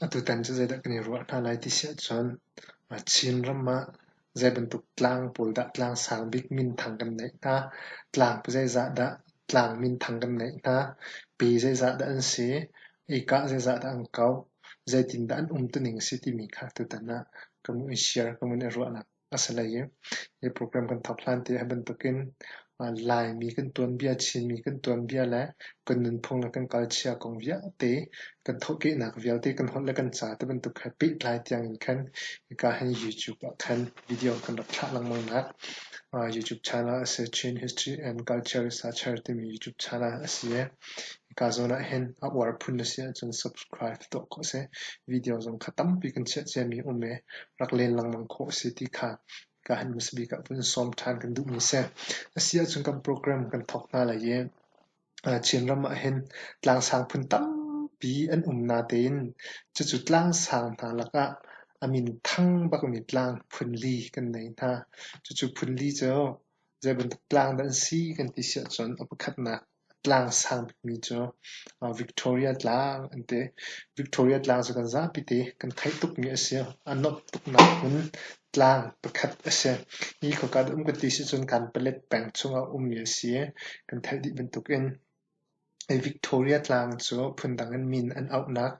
Atutan cu zeidah kan i ruah hna lai ti si ahcun Chin ram ah zeibantuk tlang pawl dah tlang sang bik minthang kan neih hna, tlang zeizah dah tlang minthang kan neih hna, pi zeizah dah an si, ika zeizah dah an kauh, zeitindah an umtuning a si timi kha tutan ah kan i share, kan i ruah lai. A si lei i hi program kan thok hlan te hi bantukin Laimi kan tuanbia, Chinmi kan tuanbia le kan nunphung le kan culture kong vialte kan thawhkehnak vialte kan holh le kan ca te bantuk he pehtlai tiang in khan hika hin YouTube ah khan video kan rak thlah lengmang nak YouTube channel a si Chin History and Culture Researcher timi YouTube channel a si i Ka zawn ahhin a uar phun na si ahcun subscribe tuah ko seh. Video zong kha tampi kan chiah ciami um i rak len lengmang khawh a si ti kha ka han hmasa bik ah vun sawm ṭhan kan duhmi si. A si ahcun kan program kan thawk hna lai i uh, Chinram ahhin tlangsang phun tampi an um natein cucu tlangsang hna lakah a min thang bakmi tlang phun li kan nei hna. Cucu phun li cu zeibantuk tlang dah an si kan ti si ahcun a pakhatnak A tlang sangmi cu Victoria Tlang an ti. Victoria Tlang cu kan zapi te kan theih tukmi a si. A nuamh tuknak hmun tlang pakhat a si. Hi khoika dah um ka ti sicun Kanpalet peng chung ah ummi a si i kan theih dih bantukin hi Victoria Tlang cu phundang in min an auhnak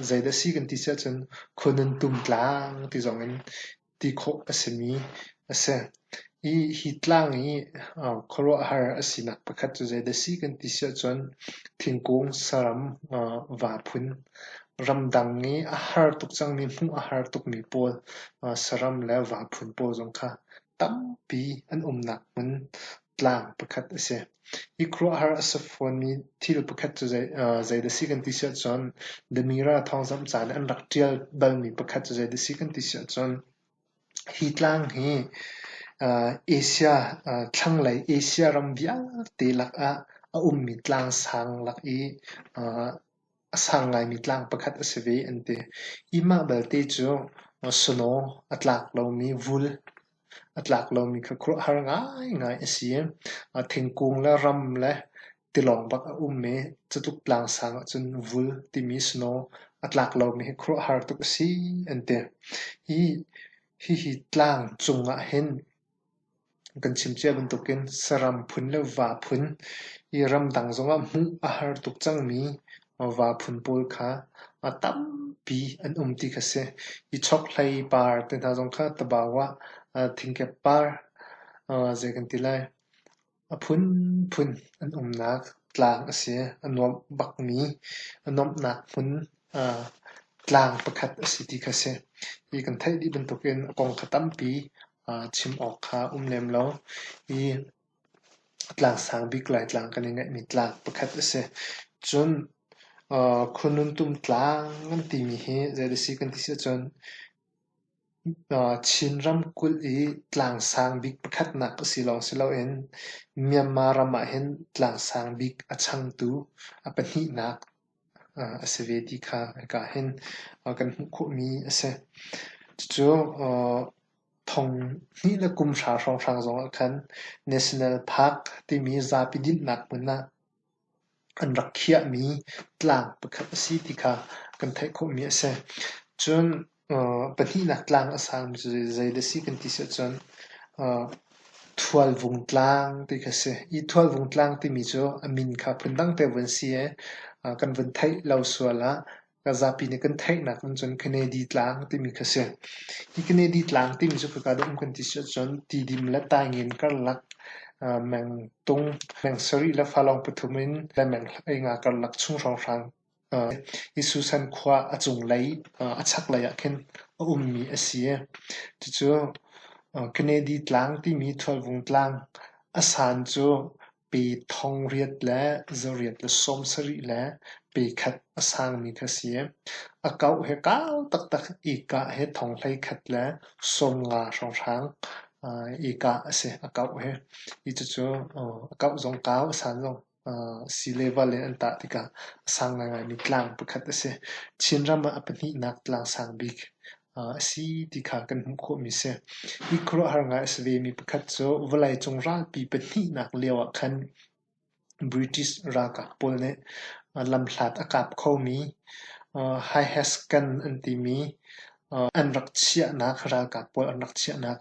zeidah a si kan ti sicun Khonuntum Tlang ti zong in ti khawh a simi a si. Hi, hi tlang i khuaruahhar a sinak pakhat cu zei dah a si kan ti si ahcun thingkung, saram, va phun, ramdang i a har tuk cangmi, hmuh a har tukmi pawl saram le va phun pawl zong kha tampi an umnak hmun tlang pakhat a si. Hi khuaruahhar a si fawnmi thil pakhat cu zei dah a si kan ti siah cun The Mirror thawngzamh ca nih an rak ṭial balmi pakhat cu zei dah a si kan ti siah cun hi tlang hi Asia thlanglei Asia ram vialte lakah a ummi tlangsang lak i a sang ngaimi tlang pakhat a si ve an ti. Hi mah belte cu snow a tlak lomi vul, a tlak lomi kha khuaruahhar ngaingai a si i thingkung le ram le tilawng bak a um i cutluk tlangsang ahcun vul timi snow a tlak lomi hi khuaruahhar tuk a si an ti. Hihi tlang cung ah hin Kan chim cia bantukin saram phun le va phun hi ramdang zongah hmuh a har tuk cangmi va phun pawl kha a tampi an um ti kha si. Hi chokhlei par te hna zong kha tabau ah thingkep par zei kan ti lai. A phunphun an umnak tlang a si. A nuamh bakmi, a nuamhnak hmun ah tlang pakhat a si ti kha a si. Hi kan theih dih bantukin a kong kha tampi aa chim awk kha a um lem lo. Hi tlang sang bik Laitlang kan i ngaihmi tlang pakhat a si. Cun khununtum tlang kan timi hi zeidah a si kan ti si ahcun Chin ramkulh i tlangsang bik pakhatnak a si lawng si loin Myanmar ram ahhin tlangsang bik a changtu a pahnihnak a si ve ti kha hika hin kan hmuh khawhmi a si. Cucu thonghnih le kum hra hrawnghrang zongah khan National Park timi zapi dinhnak hmun ah An rak khiahmi tlang pakhat a si ti kha kan theih khawhmi a si. Cun pahnihnak tlang a sami cu zei dah a si kan ti si ahcun Thualvung tlang ti kha a si. Hi Thualvung tlang timi cu a min kha phundang te vu an si i kan vun theih lo sual ah Ka zapi nih kan theihnak in cun Kennedy Tlang timi kha a si. Hi Kennedy Tlang timi cu khika dum kan ti si ahcun Tidim le Taingin karlak ah meng tung meng sarih le fa lawng pathum in le meng hlei nga karlak chung hrawnghrang hi Susan khua a cunglei a chaklei ah khin a ummi a si. Cucu Kennedy Tlang timi Thualvung Tlang a san cu Pe thong riat le za riat le sawmsarih le pe khat a sangmi kha si. A kauh he kau taktak i kah he thong hlei khat le sawm nga hrawnghrang uh, i kah a si, a kauh he. Hi cucu uh, a kauh zong kau, a san zong uh, si le va le an tah tikah a sang ngaingaimi tlang pakhat a si. Chinram ah a pahnihnak tlang sang bik a si ti kha kan hmuh khawhmi a si. Hi khuaruahhar ngai a si vemi pakhat cu vawleicung ralpi pahnihnak lioah khan British ralkap pawl nih lamhlat a kap khomi High Hescan an timi an rak chiahnak ralkap pawl an rak chiahnak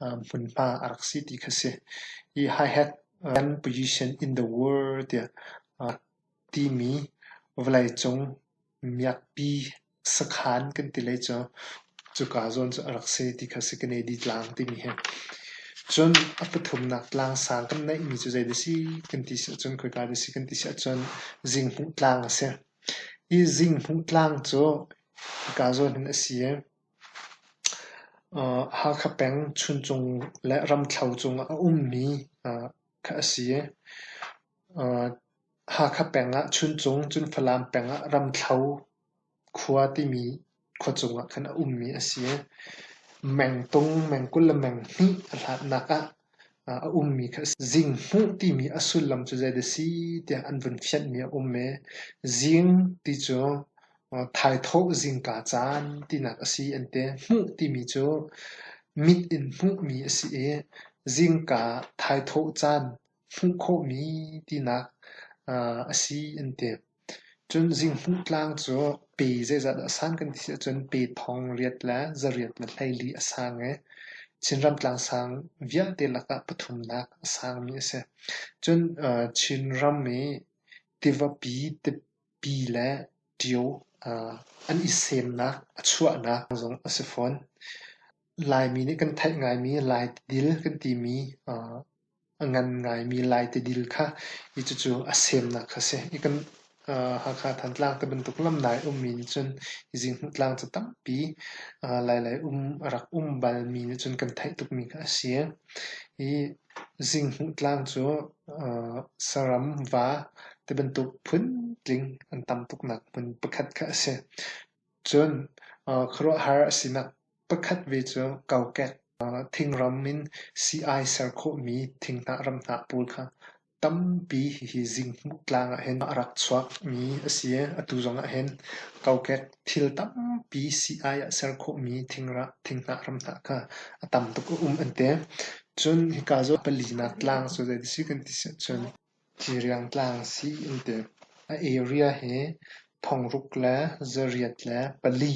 hmunhma a rak si ti kha a si. Hi High Hescan position in the world tiah timi vawleicung miakpi Sakhan kan ti lei cu cuka zawn cu a rak si ti kha Sekanedi tlang timi hi. Cun a pathumnak tlang sang kan neihmi cu zei da si kan ti si ahcun khoika da si kan ti si ahcun Zinghmuh tlang a si. Hi Zinghmuh tlang cu hika zawn hin a si i uh, Hakha peng Chuncung le Ramthlo cung ah a ummi uh, kha a si. Uh, Hakha peng ah Chuncung, cun Falam peng ah Ramthlo khua timi khua cung ah khan a ummi a si. Mengtung, mengkul le menghnih a hlatnak ah a ummi kha a si. Zinghmuh timi a sullam cu zei dah si tiah an vun fianhmi a um i, zing ti cu thaithawh zingka caan tinak a si an ti. Hmuh timi cu mit in hmuhmi a si i, zingka thaithawh caan. hmuh khawhmi tinak a si an ti. Cun Zinghmuh tlang cu pe zeizat dah a sang kan ti ahcun pe thong riat le zariat le hleili a sang i Chinram tlangsang vialte lakah pathumnak a sangmi a si. Cun Chinram i tivapi, tipi le ṭio an i semnak, a chuahnak zong a si fawn. Laimi nih kan theih ngaimi Lai tidil kan timi a ngan ngaimi Lai tidil kha i cucu a semnak kha a si. I kan Hakha Thantlang ti bantuk lam nai ummi nih cun hi zinghnuhtlang cu tampi lailai um a rak um balmi nih cun kan theih tukmi kha a si. Hi zinghnuhtlang cu saram, va ti bantuk phun-tling an tam tuknak hmun pakhat kha a si. Cun khuaruahhar a sinak Pakhat ve cu kokek thingram in sii-ai ser khawhmi thinghnah ramhnah pawl kha tampi hihi zinghmuh tlang ah hin a rak chuakmi a si i atu zongah hin kokek thil tampi sii-ai ah ser khawhmi thinghnah ramhnah kha a tam tuk a um an ti. Cun hika cu palinak tlang cu zei a si kan ti si ahcun Ciriang tlang sii in tuk, a area hi thongruk le zariat le pali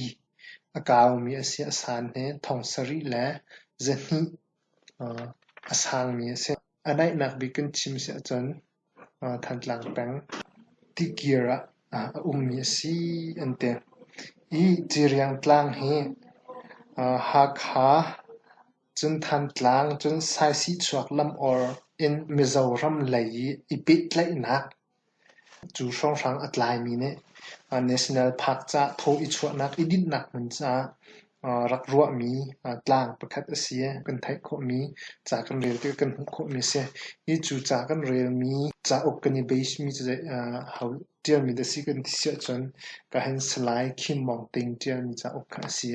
a kaumi a si. A san hi thong sarih le zahnih a sangmi a si. A naihnak bik in chim si ahcun Thantlang peng tikir ah a ummi a si an ti. Hi Ciriang tlang hi Hakha Cun Thantlang cun Saisihchuak lam or in Mizoram lei i pehtlaihnak cu hrawnghrang a tlaimi nih National Park caah thaw i chuahnak i dinhnak hmun caah rak ruahmi tlang pakhat a si i kan theih khawhmi ca kan rel tikah kan hmuh khawhmi a si. Hi cu ca kan relmi cauk kan i beismi cu a ho Ṭialmi na si kan ti siahcun ka han Salai Khin Maung Ting ṭialmi cauk kha a si.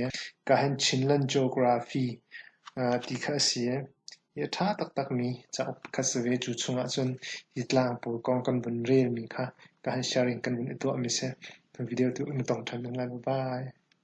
Ka han Chinland Geography ti kha a si. Hi a ṭha taktakmi cauk kha si ve. Cu chungah cun hi tlang pawl kong kan vun relmi kha ka han sharing kan vun i tuahmi a si. Video tu na tong ṭhan ning lai. Bye-bye.